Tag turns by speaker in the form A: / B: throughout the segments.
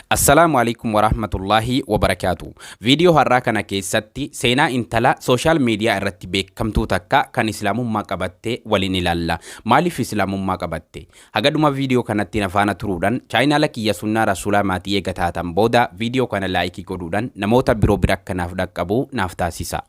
A: Assalaamu Aleykum Warahmatullaahi Wabarakaatu. Viidiyoo har'aa kana keessatti seenaa intala sooshaal miidiyaa irratti beekamtuu takka kan Islaamummaa qabatte waliin ilaalla. Maaliif Islaamummaa qabatte? Haga dhuma viidiyoo kanatti na faana turuudhaan chaayinaala kiyya sunnaa rasuulaa maatii eega taatan booda viidiyoo kana laayikii godhuudhaan namoota biroo bira akka naaf dhaqqabu naaf taasisa.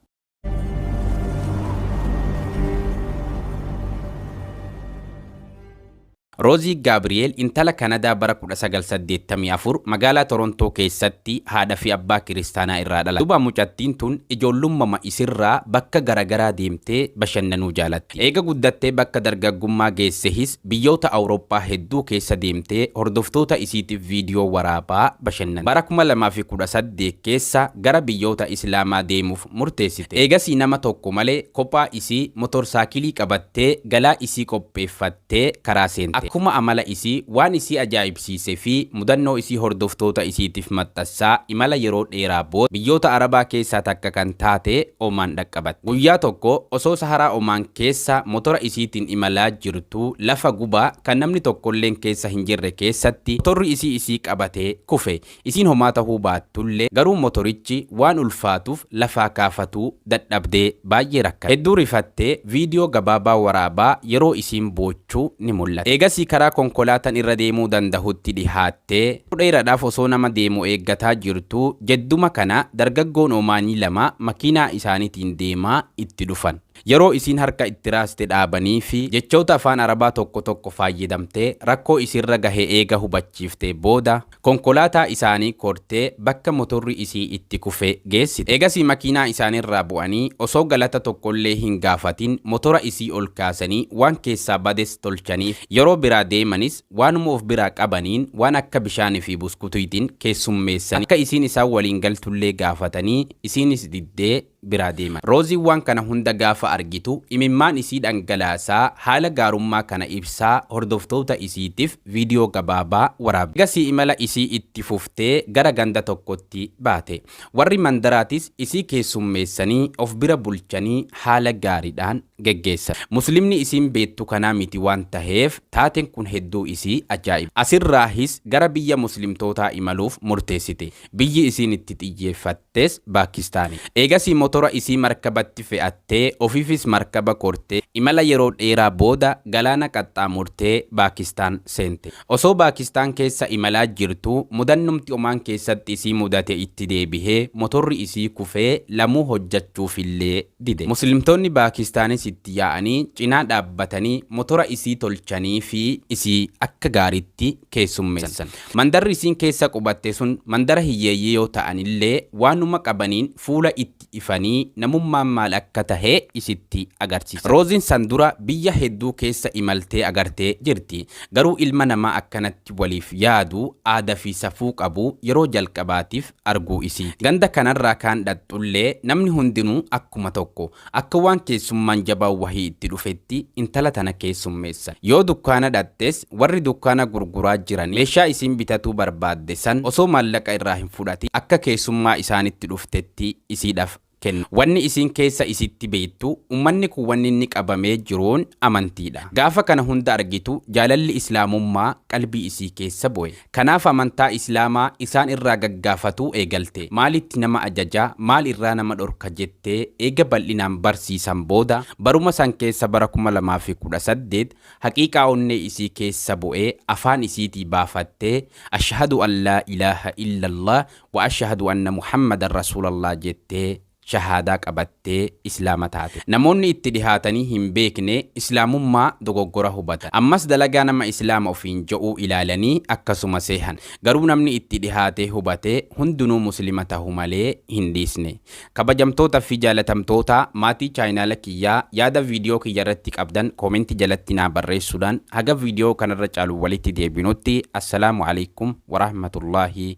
A: Roozii Gaabri'eel intala Kanadaa bara 1984 magaalaa Torontoo keessatti haadha fi abbaa kiristaanaa irraa dhalatte. Duuba mucattiin tun ijoollummama isirraa bakka garagaraa deemtee bashannanuu jaalatti. Eega guddattee bakka dargaggummaa geessehis Biyyoota Awurooppaa hedduu keessa deemtee hordoftoota isiitiif viidiyoo waraabaa bashannante. Bara 2018 keessa gara biyyoota Islaamaa deemuuf murteessite. Eegasii nama tokko malee kophaa isii motorsaakiilii qabattee galaa isii qopheeffattee karaa seente. Akkuma amala isii waan isii ajaa'ibsiise. siise fi mudannoo isii hordoftoota isiitiif maxxassaa imala yeroo dheeraa booda biyyoota Arabaa keessaa takka kan taate Omaan dhaqqabatte. Guyyaa tokko osoo Saharaa Omaan keessa motora isiitiin imalaa jirtuu lafa gubaa kan namni tokkolleen keessa hin jirre keessatti motorri isii isii qabatee kufe. Isiin homaa tahuu baattullee garuu motorichi waan ulfaatuuf lafaa kaafatuu dadhabdee baay'ee rakkatte. Hedduu rifattee viidiyoo gabaabaa waraabaa yeroo isiin boochu ni mul'ata. Eegasii karaa konkolaatan irra deemuu dandahutti dhihaattee yeroo dheeradhaaf osoo nama deemu eeggataa jirtuu jedduma kana dargaggoon Omaanii lama makiinaa isaanitiin deemaa itti dhufan. Yeroo isiin harka itti raaste dhaabaniifi jechoota afaan Arabaa tokko tokko faayyadamtee rakkoo isirra gahe eega hubachiiftee booda, Konkolaataa isaanii kortee bakka motorri isii itti kufe geessite. Eegasii makiinaa isaanirraa bu'anii osoo galata tokkollee hin gaafatin motora isii ol kaasanii waan keessaa bades tolchaniif. Yeroo biraa deemanis waanuma of biraa qabaniin waan akka bishaanii fi buskutuytiin keessummeessanii akka isiin isaan waliin galtullee gaafatanii isiinis diddee, biraa deeman. Rooziin waan kana hunda gaafa argitu imimmaan isii dhangalaasaa haala gaarummaa kana ibsaa hordoftoota isiitiif viidiyoo gabaabaa waraabde. Egasii imala isii itti fuftee gara ganda tokkotti baate. Warri mandaraatis isii keessummeessanii of bira bulchanii haala gaariidhaan geggeessan. Muslimni isiin beettu kanaa miti waan taheef taaten kun hedduu isii ajaa'ibe. Asirraahis gara biyya muslimtootaa imaluuf murteessite. Biyyi isiin itti xiyyeeffattes Baakistaani. Eegasii motora isii markabatti fe'attee ofiifis markaba kortee imala yeroo dheeraa booda galaana qaxxaamurtee Baakistaan seente. Osoo Baakistaan keessa imalaa jirtuu mudannumti Omaan keessatti isii mudate itti deebihee motorri isii kufee lamuu hojjachuufillee dide. Muslimtoonni Baakistaanis itti yaa'anii cinaa dhaabbatanii motora isii tolchaniifii isii akka gaariitti keessummeessan. Mandarri isiin keessa qubatte sun mandara hiyyeeyyii yoo ta'anillee waanuma qabaniin fuula itti ifanii namummaan maal akka tahe isitti agarsiisan. Roozin san dura biyya hedduu keessa imaltee agartee jirti. Garuu ilma namaa akkanatti waliif yaadu, aada fi safuu qabu yeroo jalqabaatiif arguu isiiti. Ganda kanarraa kaan dhaqxullee namni hundinuu akkuma tokko. Akka waan keessummaan jabaan wahii itti dhufetti intala tana keessummeessan. Yoo dukkaana dhaqxes warri dukkaana gurguraa jiran meeshaa isiin bitatuu barbaadde san osoo maallaqa irraa hin fudhatin akka keessummaa isaanitti dhuftetti isiidhaf kenna. Wanni isiin keessa isiitti beeytu, ummanni kun wanni inni qabamee jiruun amantiidha. Gaafa kana hunda argitu jaalalli Islaamummaa qalbii isii keessa bu'e. Kanaaf amantaa Islaamaa isaan irraa gaggaafatuu eegalte. Maalitti nama ajaja, maal irraa nama dhorka jettee eega bal'inaan barsiisan booda, baruma san keessa bara 2018 haqiiqaa onnee isii keessa bu'e afaan isiitii baafattee, Ashhadu an laa ilaaha illallaah Wa ashahadu anna Muhammadan Rasuulallah jettee shahaadaa qabattee Islaama taate. Namoonni itti dhihaatanii hin beekne Islaamummaa dogoggora hubatan. Ammas dalagaa nama Islaama ofiin ja'uu ilaalanii akkasuma seehan. Garuu namni itti dhihaatee hubate hundunuu Muslima tahu malee hin dhiisne. Kabajamtoota fi jaalatamtoota maatii chaayinaala kiyyaa yaada viidiyoo kiyya irratti qabdan comment jalatti naa barreessuudhaan haga viidiyoo kanarra caaluun walitti deebinutti Assalaamu Aleykum Warahmatullaahi